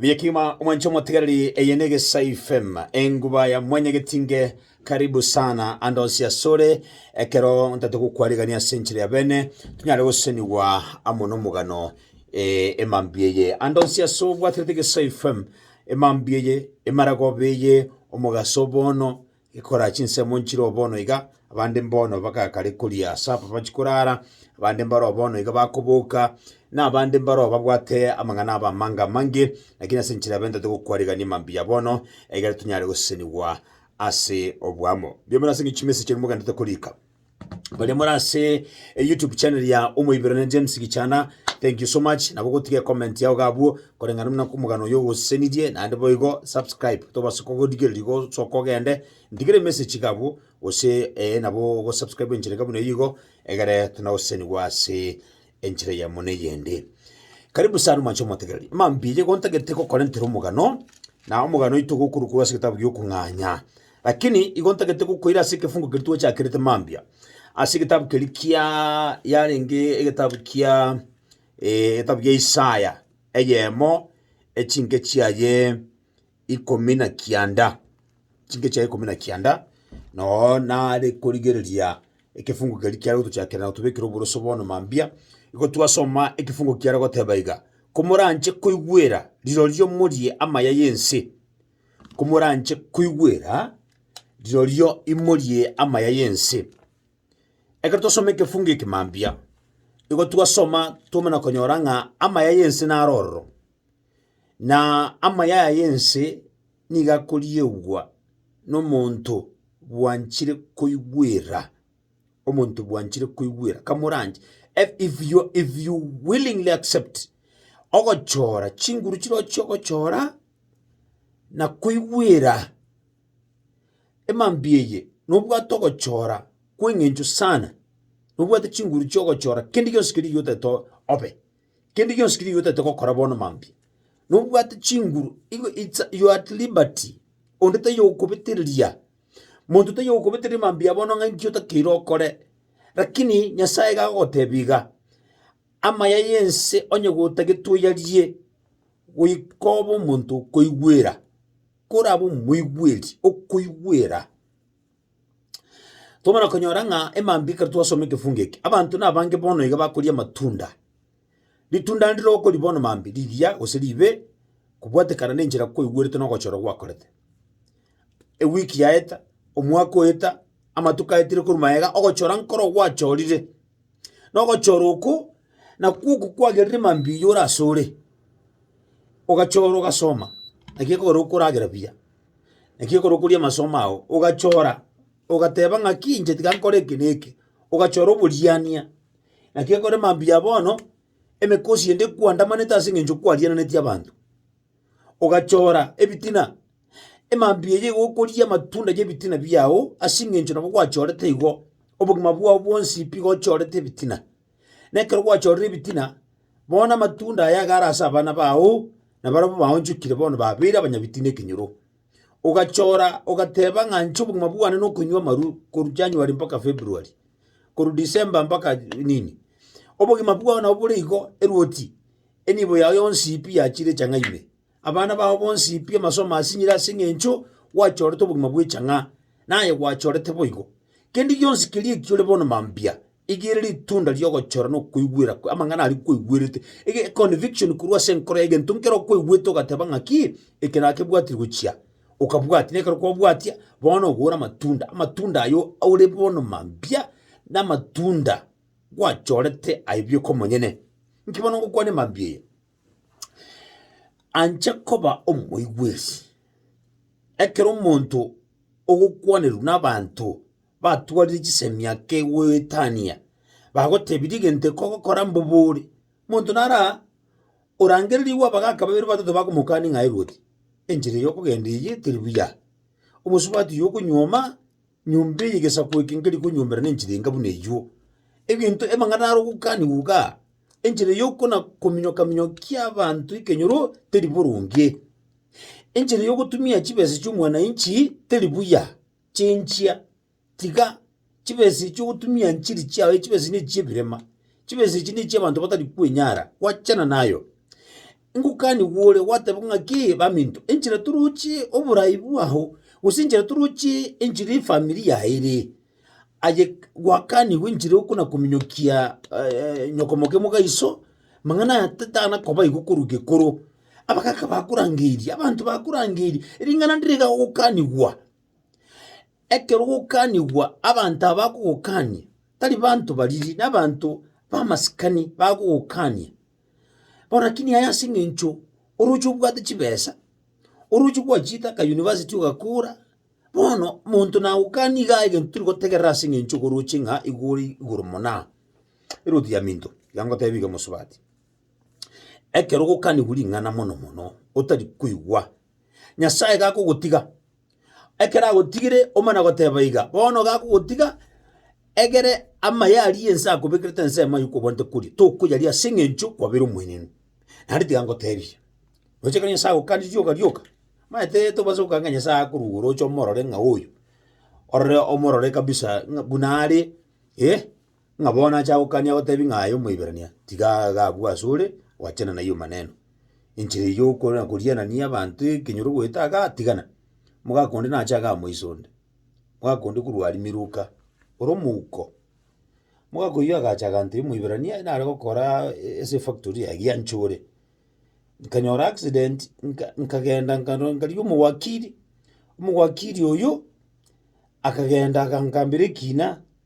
Biekima omwanche omotigareri eye negesai fem enguba ya mwenye getinge karibu sana ande onsi asore ekero ntate gokwarigania ase enchera ya bene tunyare gosenigwa amo nomogano eh, emambi eye ande onsi ase obwaterete egesai fem emambi eye emaragoba eye omogaso bono Gekora chinsemo nchireo bono iga, abande mbono bakaga kare koria sapa bachikorara, abande mbareo bono iga bakoboka, na abande mbareo babwate amang'ana aba amange amange, lakini ase enchera bentete gokwarigania mambia bono, egere tonyare gosesenigwa ase oboamo. Mbiamano ase eng'encho chimesa chiaino mogenda tokorika. baria more ase eh, youtube channel ya omoiberane james gichana thank you so much nabo gotiga comment yao gabwo koreng'ana muna komogano oyo ogosesenirie naende boigo subscribe tobase kogodigereria gosoka ogende ntigere message gabwo gose eh, nabo gosubscribe enchera enka buna eyio igo egere tonagosesenigwa ase enchera eyemo na eyende. Karibu sana mwanche omotegereri. Mambia igo ntagete gokorentera omogano, na omogano oito gokorokwa ase egetabu gi'okong'anya. Lakini igo ntagete gokoira ase ekefungo keria twachakerete mambia. Ase egetabu keria kia yarenge egetabu kia eh, egetabu kia Isaya, eyemo echinke chiaye ikomi na kianda, chinke chiaye ikomi na kianda, noo nare korigereria ekefungu keria kiare gotochakera na gotobekera oboroso bono mambia, igo twasoma ekefungo kiare goteba iga, Komoranche koigwera rirorio morie amaya y'ense, komoranche koigwera rirorio imorie amaya y'ense. Ekero twasoma ekefungo eke mambia, igo twasoma twamana konyora ng'a amaya y'ense naro ororo. Na amayaya y'ense nigo akoriegwa nomonto bwanchire koigwera, omonto bwanchire koigwera kamoranche e- if you are- if you willingly accept ogochora chinguru chirochi chirochio ogochora na koigwera emambia eye nobwate ogochora kweng'encho sana, nobwate chinguru chiogochora kende gionsi keria otagete obe. Kende gionsi keria oyotaete gokora bono mambia, nobwate chinguru igo it's a you are at liberty, onde taiyo ogokobetereria, monto taiyo ogokobetereria mambia bono ng'a inki otakeire okore. Rakini Nyasaye iga agogotebia iga, amaya y'ense onye gotagete oyarie, goika obe omonto okoigwera, korabe omoigweri, okoigwera. Twamana konyora ng'a emambia ekero twasoma egefungu eke, abanto nabange bono iga bakoria amatunda. Ritunda ndire okoria bono mambia, rigiya gose ribe, kobwatekana na enchera kwaigwerete na ogochora gwakorete. Ewiki yaeta, omwaka oeta, amatuko aetire korwa magega, ogochora nkoro gwachorire. Na ogochora okwo, nakwo oko kwagerire mambia oyio ore asore, ogachora ogasoma, naki ekogera okoragera buya. Naki ekero okoria amasomo ao, ogachora, ogateba ng'aki inche tiga nkore eke na eke, ogachora oboriania. Naki ekero mambia bono, emekosi ende ekwandamanete ase eng'encho kwariananeti abanto, ogachora ebitina, emambia eye igo okoria amatunda y'ebitina biago ase eng'encho nabo gwachorete igo, obogima bwao bwonsi pi gochorete ebitina. Na ekero gwachorire ebitina, bono namatunda aya iga are ase abana bao, na barabwo baonchokire bono babeire abanyabitina ekenyoro. Ogachora ogateba ng'a inche obogima bwane na okonywa amarwa korwa January mpaka February, korwa December mpaka nini, obogima bwao nabo bore igo, erwoti, enibo yao yonsi pi yachire chang'a ime. abana bao bonsi pi amaso amasinyire ase eng'encho gwachorete obogima bw'echang'a, naye gwachorete boigo. Kende gionsi keria eki ore bono mambia, igere ritunda ri'ogochora na okoigwera kwe amang'ana aria kweigwerete, ege econviction korwa ase enkoro yago, egento nkere okweigwete ogateba ng'aki, eke nakebwatia gochia, okabwatia, na ekero kwabwatia, bono ogore amatunda, amatunda ayio aure bono mambia, na amatunda gwachorete aye bioka omonyene. Nki bono ngokwane mambia eye? Anche koba omoigwesi. Ekero omonto ogokwanerwa nabanto batwarire chisemi ake goetania, bagotebi rigente kogokora mbobori, monto nara orangererigwe abagaka babere batato bakomokani ng'a erwe oti, enchera eyio okogenda eyio teri buya, omosubati oyio okonywa maa, Nyomba eye y'egesaku eke nkeri konyuomera nenchera enga buna eyio. Egento amang'ana are ogokanigwa iga, enchera y'okona-kominyoka-minyokia abanto ekenyoro teri boronge. Enchera y'ogotumia chibesa chi'omwananchi teri buya, chenchia, tiga chibesa echio ogotumia nchiri chiago echio chibesa echi ne chi'ebirema, chibesa echi ne chi'abanto batari kwenyara, gwachana nayo. Ngokanigwa ore gwateba ng'a ki baminto, enchera toroche oboraai bwao, gose enchera toroche enchera efamiri yao ere aye gwakanigwa enchera okonakominyokia nyokomokia omogaiso, amang'ana aya tatanakoba igo korwa gekoro. Abagaka bakorangeirie, abanto bakorangeirie, ring'ana ndire iga ogokanigwa, ekero ogokanigwa abanto aba bakogokania tari banto bariri, nabanto bamasikani bagogokania. Borakini aye ase eng'encho oroche obwate chibesa, oroche gwachiete aka university ogakora, bono monto nagokani igaa egento tiri gotegerera ase eng'encho iga oroche ng'a igo ore igoro mona aa. Erotiaminto, iga ngotebi iga mosubati, ekero ogokanigwa ring'ana mono mono otari koigwa, nyasaye iga akogotiga. ekero agotigire omana goteba iga, bono gakogotiga, egere amaye aria ense akobekerete ensemo aye okwobwanete koria, tokoyaria ase eng'encho kwabera omwenenu. Naende tiga ngotebie, roche ekero Nyasae agokanire rioka rioka, omanyete tobaisa gokana ng'a Nyasae akorwa igoro oche omorore ng'a oyo, orore omorore kabisa ng'a buna are eh. ng'a bono ache agokania gotebi ng'a aye Omoiberania tiga agagwe asore oachene nayio maneno. Enchera eyio okona korianania abanto ekenyoro goeta agatigana, omogaka onde nache agamoisa onde, omogaka onde korwa aria Miluka, ore omouko. Omogaka oyio agacha agantebi Omoiberania nare gokoraa e- ase efactory yaye giancha ore, nkanyora accident nka- nkagenda nkano nkarigia omowakiri, omowakiri oyio akagenda agankambera ekina.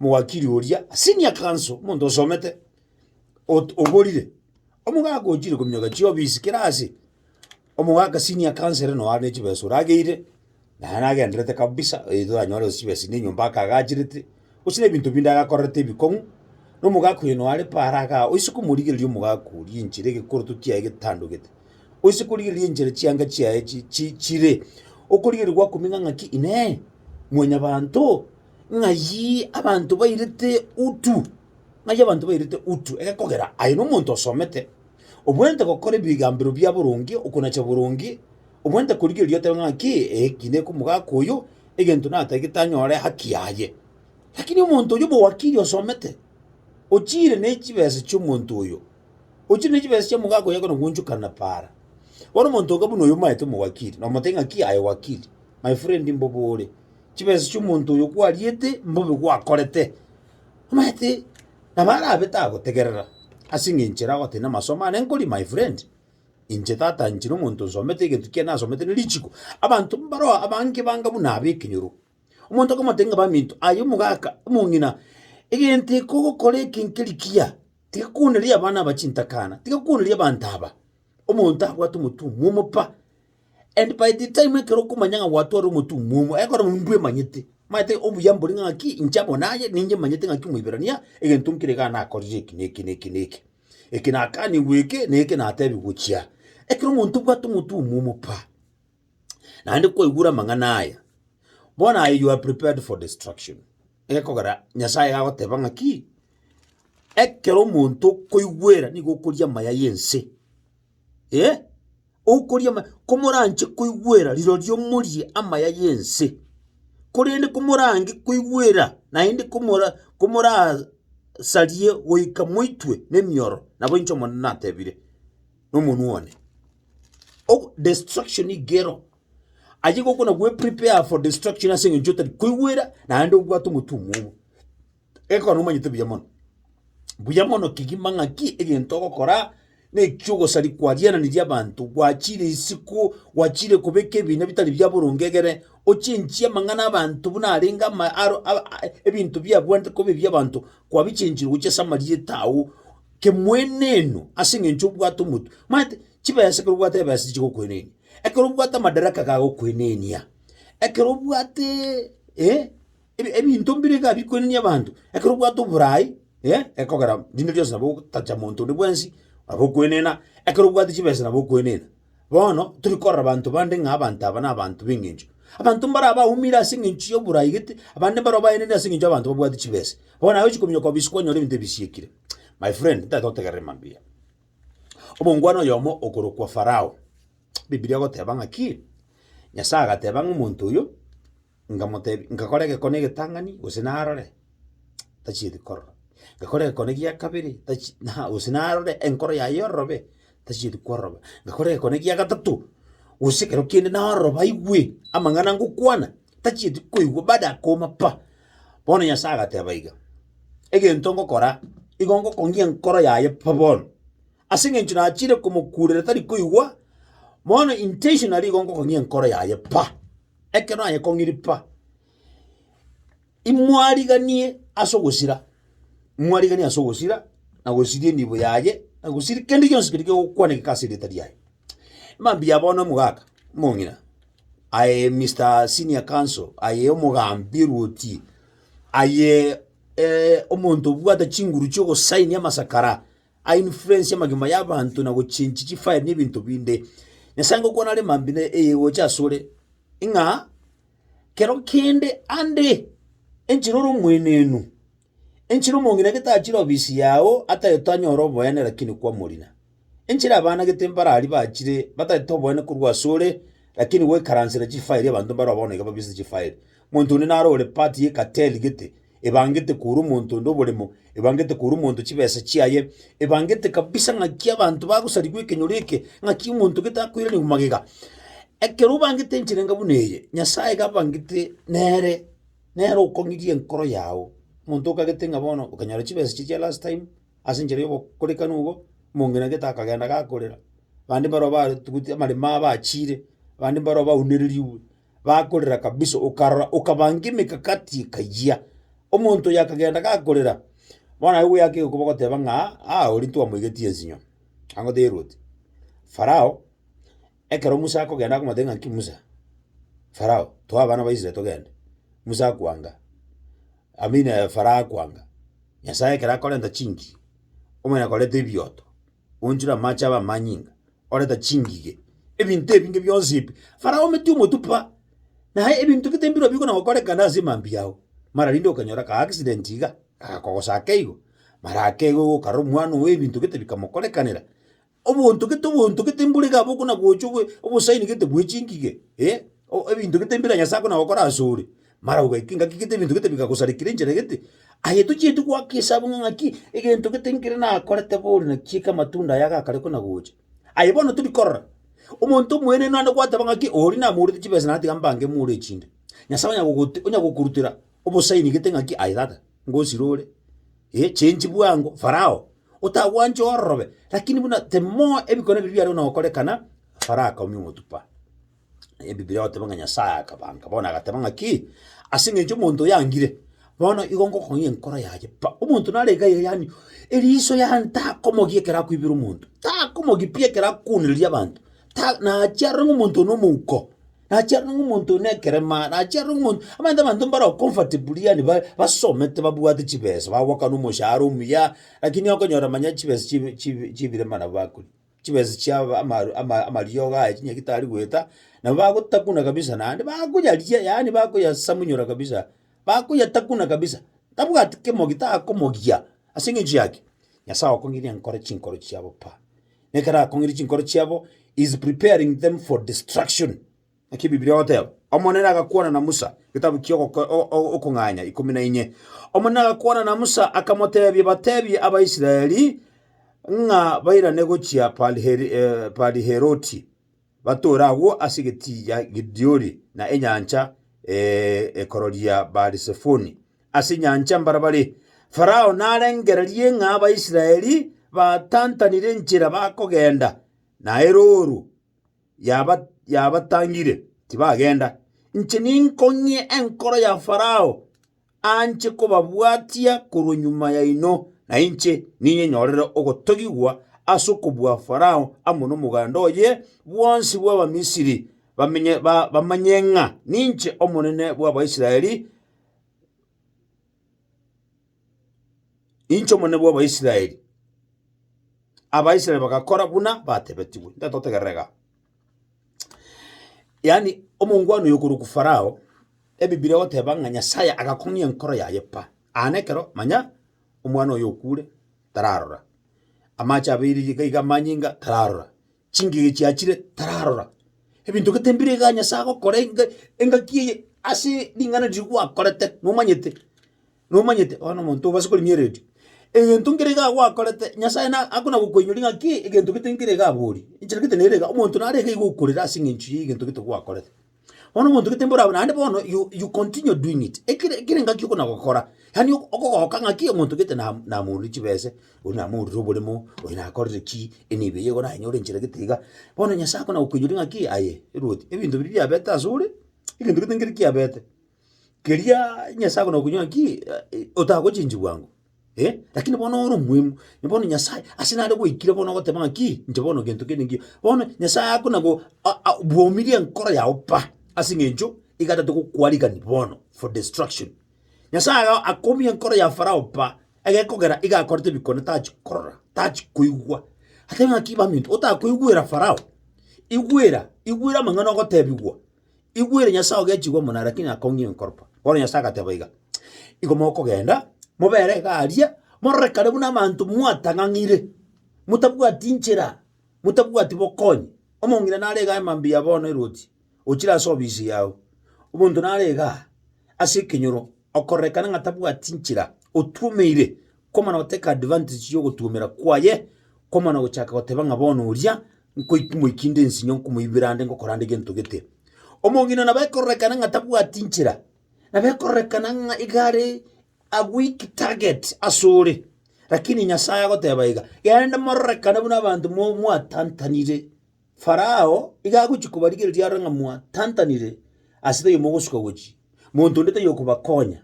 Omowakiri oria, senior counsel, omonto osomete, ot- oborire, omogaka ochire kominyoka chiofisi kera ase, omogaka senior counsel ere noo are ne chibesa orageire, naye nagendererete kabisa eh toranyore gose chibesa na enyomba akagachirete, gose na ebinto binde agakorerete ebikong'u, na omogaka oyo noo are paaro aga oise komorigereria omogaka oria enchera egekoroto kiaye getandogete, oise korigereria enchera chianga chiaye chi- chi chire, okorigereria gwakumenya ng'aki inee, mwanyabanto. ng'ayii abanto bairete utu, ng'ayio abanto bairete utu, egekogera aye nomonto osomete, obwenerete gokora ebigambero bia boronge, okonacha boronge, obwenerete korigereria otebe ng'aki, ee, ki nekomogaka oyo, egento natagete anyore haki yaye. Lakini omonto oyio bw'owakiri osomete, ochiire ne chibesa chi'omonto oyo, ochiire ne chibesa chia omogaka oyo ekona goonchokana na paara, bono omonto oka buna oyo omaete omowakiri, nomotebi ng'aki, aye wakiri, my friend mbobore. chibesa chi'omonto oyo kwariete mbobe gwakorete, omanyete nabo arabe tagotegerera ase eng'encho ere agoteeba na amasomo ane nkori my friend, inche tata inche na omonto nsomete egento ekiya nasomete ne richiko, abanto mbaro abange banga buna abe ekenyoro. Omonto okomotebia ng'a baminto aye omogaka omong'ina egento eke ogokora eke nkeri kiya, tiga kwoneria abana aba chintakana, tiga kwoneria abanto aba, omonto abwate omotuoma omopa. And by the time ekero okomanya ng'a gwatware omotung'wa omo, ekero mbwe emanyete, maete obuya mbore ng'a ng'aki inche amo naye, ninche manyete ng'aki Omoiberania, egento nkere iga nakorire eki na eki na eki na eki. Eke nakanigwe eke, na eke natebiwe gochia aa. Ekero omonto obwate omotung'wa omopa, naende kwaigure amang'ana aya, bono aye you are prepared for destruction, egekogera Nyasaye iga agoteba ng'aki, ekero omonto okoigwera nigo okoria amaya y'ense, eh. Okoria ama... Komoranche koigwera rirorio morie amaya y'ense, korende komorange koigwera naende komora... komorasarie goika moitwe nemioro, nabo inche Omonene natebire nomonwa one. Ogo destruction iga ero, ayio gokona gweprepare for destruction as'engencho otari koigwera naende obwate omotwe omwomo. Ekero nomanyete buya mono, buya mono kegima ng'aki egento ogokora, na eki'ogosari kwariananirie abanto, gwachire isiko, gwachire kobeka ebina bitari bia boronge egere ochenchie amang'ana abanto buna arenge ama aro aba ebinto biabwenerete koba ebi abanto, kwabichenchire gochia ase amarieta ago, kemweneeno ase eng'encho obwate omotwe. Omanyete, chibesa ekero obwate ebesa tichigokoenenia, ekero obwate amadaraka kagokoenenia, ekero obwateeee. Ebinto mbire iga bikwenenia abanto, ekero obwate oboraai gekogera rinde rionsi nabo ogotacha monto onde bwensi, nabo okwenena, ekero obwate chibesa nabo okwenena. Bono tori korora abanto bande ng'a abanto aba na abanto b'eng'encho. Abanto mbare abaumire ase eng'encho y'oboraai gete, abande mbare baenene ase eng'encho y'abanto babwate chibesa. Bono naye ochi kominyoka obisi kwanyora ebinto ebi bisiekire. My friend, ntagete gotegerera mambia. Omongwana oyomo okorokwa Farao, Bibilia egoteba ng'aki? Nyasae agateba ng'a omonto oyo. nkamotebia, nkakora egekone egetang'ani gose narore, tachieti korora, nkakora egekone gia kabere tachi na gose narore enkoro yaye ororobe, tachieti kororoba, nkakora egekone gia gatato, gose ekero kende naroroba aigwe amang'ana ngokwana, tachieti koigwa baada ya kouma pa. Bono Nyasae agateba iga, egento ngokora, igo ngokongia enkoro yaye pa bono, ase eng'encho nachiire komokurera tari koigwa, bono intentionally igo ngokongia enkoro yaye pa. ekero aye kong'iripa, imwariganie ase ogosira, mwariganie ase ogosira na gosiria enibo yaye, na gosiria kende gionsi keria kegokwanekeka ase erieta riaye. Mambia bono omogaka, omong'ina, aye Mister Senior Counsel, aye omogambi erwoti, aye omonto obwate chinguru chi'ogosainia amasakara. a influence amagima y'abanto na gochengi chifile na ebinto binde. Nyasae ngokwana are mambia na eyegocha asore, ng'a kero kende ande enchera ore omwenenu, enchera omong'ina gete achire ofisi yao ataete anyore oboene lakini kwamorina, enchera abana gete mbarari bachire bataete oboene korwa asore lakini goikaransera chifile abanto mbare bono iga babise chifile, monto onde naro ore part ye cartel gete. ebangete korwa omonto onde oboremo, ebangete korwa omonto chibesa chiaye, ebangete kabisa ng'aki abanto bagosarigwa ekenyoro eke, ng'aki omonto gete akoiraneria magega. Ekero obangete enchera enga buna eye, Nyasaye iga abangete nere, nere okong'iria enkoro yago. Omonto okagete ng'a bono okanyora chibesa echi chia last time, ase enchera ya obokorekanu obo, omong'ina gete akagenda gakorera, bande mbaro barutigwe amaremo abo bachiire, bande mbaro baunereriwe. Bakorera kabisa, okarora okabangia emekakati ekayia. Omonto oyo akagenda gakorera, bono aye goyaka egokuba goteba ng'a aa oria ntwamoigetie ensinyo, ango teirwete. Farao, ekero Musa akogenda akomotebia ng'a nki Musa, Farao, toa abana ba Israel togende. Musa akwanga, amina Farao akwanga. Nyasae ekero akorenta chingiri, omonyene akoreta ebioto. Oonchire amaache abe amanyinga, oreta chingige, ebinto ebinge bionsi ebi. Farao omete omotupa, na ebinto gete mbirobio bikona gokorekana ase emambia yao. Mara rinde okanyora ka accident iga, gakogosaka igo, mara ake igo gokarora omwana oye ebinto gete bikamokorekanera. Obonto gete obonto gete mbore iga abwo okona gocha obo- obosaini gete bwe chingige, eh, o- ebinto gete mbire Nyasae akona gokora asore. Mara ogaika engaki gete ebinto gete bigagosarekera enchera gete, aye tochieti goaka esabu ng'a ng'aki egento gete nkere nakorete bono naki eke amatunda aya gakare kona gocha. Aye bono tori korora, omonto omoenenu naende gwateba ng'aki oria namoorete chibesa natiga mbange moore echinde, Nyasae onya gogote onya gokorutera obosaini gete ng'aki aye tata, ngosira ore, eh change bwango, Farao, otagwanche ororobe, rakini buna the more ebikone biria biare buna gokorekana, Farao akaumia omotu pa. Ebibilia egoteba ng'a Nyasaye akabanka, bono agateba ng'aki, Ase eng'encho omonto oyangire, bono igo ngokong'ia enkoro yaye pa. Omonto nare iga iga yaani eriso yane takomogia ekero akoibera omonto, takomogia pi ekero akwonereria abanto, ta nachia arore ng'a omonto one omouko, nachia arore ng'a omonto one nekerema, nachia arore ng'a omonto omanyete abanto mbaro comfortably yaani ba basomete babwate chibesa, bagoakana omoshahara omuya, lakini okonyora manya chibesa chibi chibi chibire buna bakoria. chibeso chia aba- amaru- ama- amariogo aya chinyeki tari goeta, nabo bagotakuna kabisa naende bakoyaria yaani bakoyasamunyora kabisa, bakoyatakuna kabisa, tabwati kemo gitakomogia ase eng'encho yaki, Nyasae okong'ina nkore chinkoro chiabo pi. Nekero akong'ire chinkoro chiabo, he is preparing them for destruction. Naki Ebibilia egoteeba, Omonene agakwana na Musa, getabu kia Ogoko- o- o- Okong'anya ikomi na inye. Omonene agakwana na Musa, akamoteebia, Bateebie Abaisraeli ng'a bairane gochia Pariher- eh, Pariheroti, batore agwo ase egetiiya Gidiori na enyancha eh, ekororia Baarisefoni, ase enyancha mbarabare. Farao narengererie ng'a Abaisraeli batantanire enchera bakogenda, na erooro. yaba yabatangire, tibagenda. Inche ninkong'ie enkoro ya Farao anche kobabwatia korwa nyuma yaino, na inche ninyenyorere ogotogigwa ase okobua Farao amo nomoganda oye bwonsi bw'Abamisiri, bamenye ba bamanye ng'a ninche Omonene bw'Abaisraeli. Inche Omonene bw'Abaisraeli. Abaisraeli bagakora buna batebetigwe. Intwe totegerera iga. Yaani omongwana oyo okorokwa Farao, Ebibiri egoteba ng'a Nyasae agakong'ia enkoro yaye pa. Aa nekero manya omwana oyo okure tararora. Amache abeire iga iga amanyinga tararora. chingige chiachire tararora. Ebinto gete mbire iga Nyasae agokora enga engaki eye ase ring'ana riria gwakorete nomanyete, nomanyete bono omonto obase korigia eredio. Egento nkere iga gwakorete Nyasae na akona gokoinyora ng'a ki egento gete nkere iga aborie, enchera gete nere iga, omonto nare iga iga okorera ase eng'encho ya egento gete gwakorete. Bono omonto gete mborabwo naende bono you you continue doing it, ekere ekere engaki okona gokora, yaani ok- okogoka ng'aki omonto gete nam namoorire chibese, oria namoorire oboremo, oyo nakorire ki, enibo eyio igo naye nyore enchera gete iga. Bono Nyasae akona gokoinyora ng'aki aye, erwoti, ebinto biria biabete ase ore, egento gete nkere kiabete, keriaa Nyasae akona gokoinyora ng'akii otagochenchigwa bwango. Eh, lakini bono ore omoemu, na bono Nyasae ase nare gwaikire bono ogoteba ng'a ki, inche bono gento kende ngiya. Bono Nyasae ako nabo a- a- bwomirie enkoro yao pa, ase eng'encho iga atatogokwarigani bono for destruction. Nyasae iga akomia enkoro ya Farao pa, egekogera iga akorete ebikone tachi korora, tachi koigwa. Ateba ng'a ki baminto, otakoigwera Farao, igwera, igwera amang'ana ogotebigwa, Igwere Nyasae ogechigwa omonene, rakini akong'ia enkoropa. Bono Nyasae agateba iga, Igo mokogenda, mobere iga aria, morore kare buna abanto mwatang'ang'ire, motabwati nchera, motabwati bokonyi. Omong'ina nare igaa emambia bono erwoti, ochire ase obisi yago. Omonto nare igaa ase ekenyoro, okorerekana ng'a tabwati nchera, otwomeire, komana goteka advantage y'ogotuomera kwaye, komana gochaka goteba ng'a bono oria. Nkoimoikinde ensinyo nkomoibera ande ngokorande gento gete. Omong'ina nabo ekororekana ng'a tabwati nchera, nabo ekororekana ng'a iga are a weak target asore, lakini Nyasaye agoteba iga, genda mororekane buna abanto mo- mwatantanire. Farao iga agochi kobarigereria arore ng'a mwatantanire, ase taiyo mogosuka gochia, monto onde taiyo okobakonya.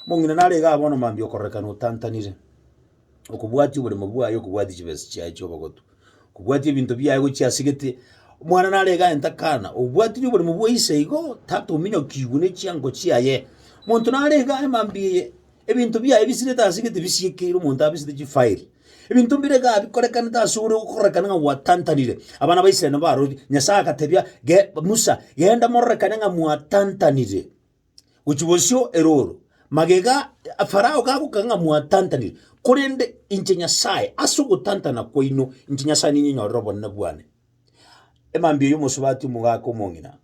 Omong'ina naro iga bono mambia okororeka notantanire, okobwatia oboremo bwaye okobwatia chibesa chiaye chia obogotu, okobwatia ebinto biaye gochia ase gete, omwana naro iga aye takana, obwatiri oboremo bwa ise igo, tatominyokigwe ne chiango chiaye. Monto nare iga aye mambia eye, ebinto biaye bisirete ase gete bisiekeire omonto abisete chifile, ebinto mbire iga bikorekanete ase ore okorekana ng'a gwatantanire. Abana ba Israel nabo baroria, Nyasae agatebia, ge Musa, genda mororekane ng'a mwatantanire, gochia bosio erooro, magega a Farao gagokaka ng'a mwatantanire, korende inche Nyasae, ase ogotantana kwaino inche Nyasae ninyenyorere obonene bwane. Emambia y'omosubati omogaka omong'ina,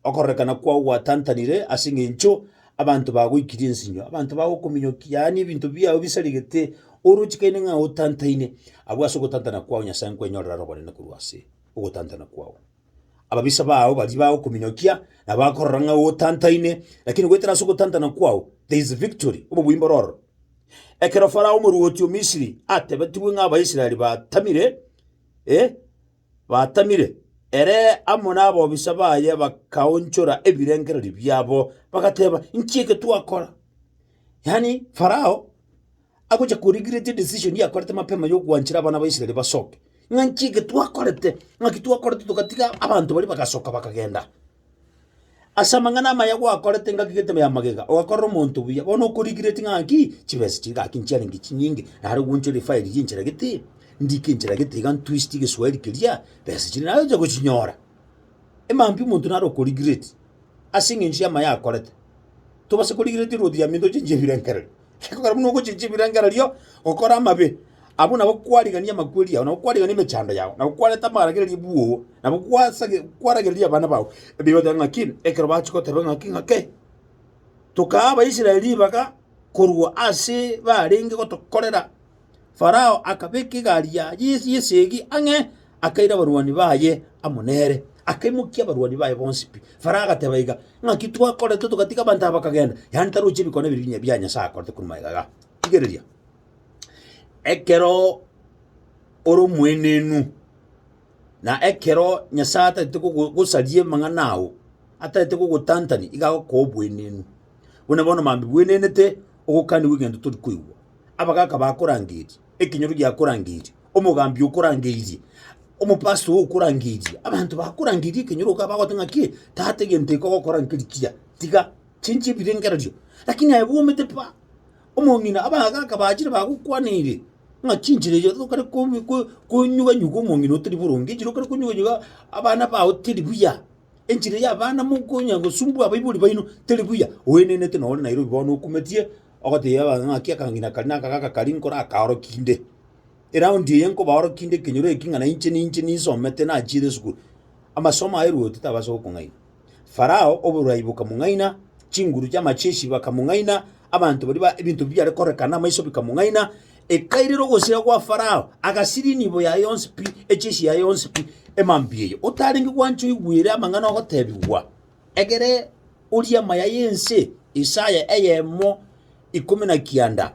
okorerekana kwao gwatantanire ase eng'encho abanto bagoikirie ensinyo, abanto bagokominyoki, yaani ebinto biao bisaregete oroche kaine ng'a otantaine, abwo ase ogotantana kwao Nyasae nkwenyorere aro obonene korwa ase ogotantana kwao. Ababisa bao baria bagokominyokia na bakorora ng'a otantaine, lakini goetera ase ogotantana kwao there is victory, obobuya mbore ororo. Ekero Farao omoruoti o Misiri atebetigwe ng'a Abaisraeli batamire, eh, batamire, ere amo nabobisa baye bakaonchora ebirengererio biabo, bagateba, Inki eke twakora? Yaani Farao. agocha koregret edecision yakorete mapema ya ogwanchera abana ba Israel basoke, ng'a nki eke twakorete, ng'aki twakorete togatiga abanto baria bagasoka bakagenda. Ase amang'ana amaya gwakorete ngaki gete ya magega, ogakorera omonto buya, bono oko regret ng'a ki, chibesa chiria gaki nchiarenge chinyinge, nare ogoanchera efile ria enchera gete, ndike enchera gete iga ntwist egeswahili keria, besa chiria nare onye gochinyora. Emaambia omonto nare oko regret, ase eng'encho y'amaya akorete. Tobasa ko regret erwoti ya minto chinche ebirengereri. Ekogera buna ogochiria chibirengererio, gokora amabe, abwo nabo kwarigania amakweri ao, nabo kwarigania emechando yao, nabo kwarenta amaragereria bwoo, nabo kwasage kwaragereria abana bao, ebi bagoteba ng'aki, ekero bachia goteba ng'aki ng'ake, tokaa Abaisraeli ribaga korwa ase barenge gotokorera. Farao akabeka egari yaye y'esegi ang'e, akaira abarwani baye amo nere, akaimokia abarwani baye bonsi pi. Farao agateba iga, Ng'aki twakorete togatiga abanto aba bakagenda? Yaani taroche ebikone ebi binya bia Nyasae akorete korwa magega iga. Rigereria, ekero ore omoenenu, Na ekero Nyasae atareti kogosaria amang'ana ao, atareti kogotantania, iga agokoa obweneenu. Buna bono mambia bwenenete ogokanigwa egento tori koigwa, abagaka bakorangeria, ekenyoro giakorangeria, omogambi okorangeirie, omopasta oo okorangeirie, abanto bakorangeirie ekenyoro iga bagoteba ng'aki, tata egento eke ogokora nkeri kiya, tiga, chinchia ebirengererio. Lakini aye bwomete pa, omong'ina, abagaka bachire bagokwaniire. Ng'a chinchera erio tokare komi- ko- konyuga nyuga omong'ina otari boronge, enchera okare konyuga nyuga abana bao teri buya, enchera ya abana mokonya gosumbua abaibori baino teri buya, oenenete na ore Nairobi bono okumetie, ogoteebia abanto ng'a naki akang'ina kare na aka gaka karia nkore akaorokia inde. Eraundi eye nkobaorokia inde ekenyoro eki ng'a nainche ninche ninsomete nachiire esukuru, amasomo aye rwoti tabasa gokong'aina. Farao oborai bokamong'aina, chinguru chi'amacheshi bakamong'aina, abanto baria ba ebinto biare korekana amaiso bikamong'aina, ekairera ogosira gwa Farao, agasiria enibo yaye yonsi pi, echeshi yaye yonsi pi, emambia eye. Otarenge gwancha oigwere amang'ana ogotebigwa, egere orie amaya y'ense. Isaya eyemo ikomi na kianda.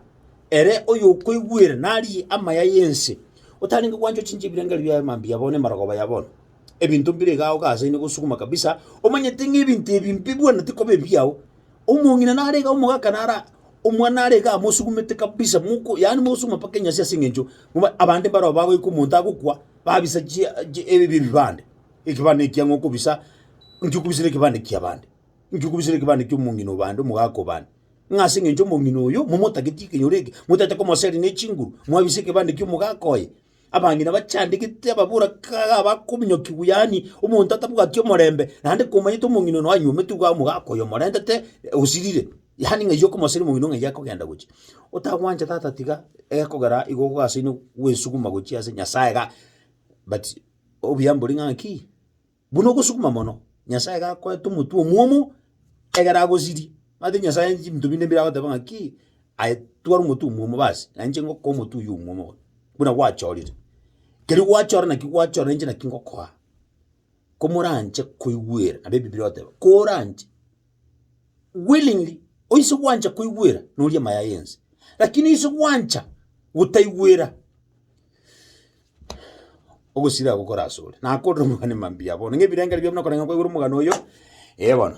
Ere oyokoigwera narie amaya y'ense, otarenge gwancha ochinche ebirengererio biaye emambia ya bono, emaragoba ya bono. ebinto mbire iga aoka ase inde gosukuma kabisa, omanyete ng'a ebinto ebi mbibwenereti koba ebiao, omong'ina nare iga omogaka nara omwana nare iga amosugumete kabisa moko yaani mosuguma mpaka enyasi ase eng'encho moba abande mbaroo bagoika omonto agokwa babisa chia chi ebi bi ebibande, ekebande ekiang'u okobisa nki okobisire ekebande kiabande? Nki okobisire ekebande kia omong'ina o bande omogaka o bande? Ng'a ase eng'encho omong'ina oyo momotageti ekenyoro eke, motaete komoseria ne chinguru, mwabisa ekebande kia omogaka oye. Abang'ina bachandegete ababora kaga bakominyokigwa, yaani omonto atabwati omorembe, naende komanyete omong'ina one anyuomete iga omogaka oyo omorentete osirire, yaani ng'a erio okomosera omong'ina ng'a erio akogenda gochia. Otagwancha tata tiga egekogera igo ogasaine gwesuguma gochia ase Nyasaye iga but obuya mbore ng'a ki. Buna ogosukuma mono, Nyasae iga akoete omotwe omwomo egere agosirie. Omanyete Nyasae aye chinto binde mbire agoteba ng'a ki, aye twara omotwe omwomo basi, na inche ngokoa omotwe oywo omwomo bono, buna gwachorire. Kerio gwachora naki gwachora na inche naki ngokoa, ko moranche koigwera, naende Ebibiri egoteba, koranche. willingly, onse gwancha koigwera noria amaya yense, lakini onse gwancha gotaigwera, ogosira gokore asore. Nakorire omogani mambia bono, ng'a ebirengererio biabu nakoreng'ana kwaigwera omogano oyo, eh bono.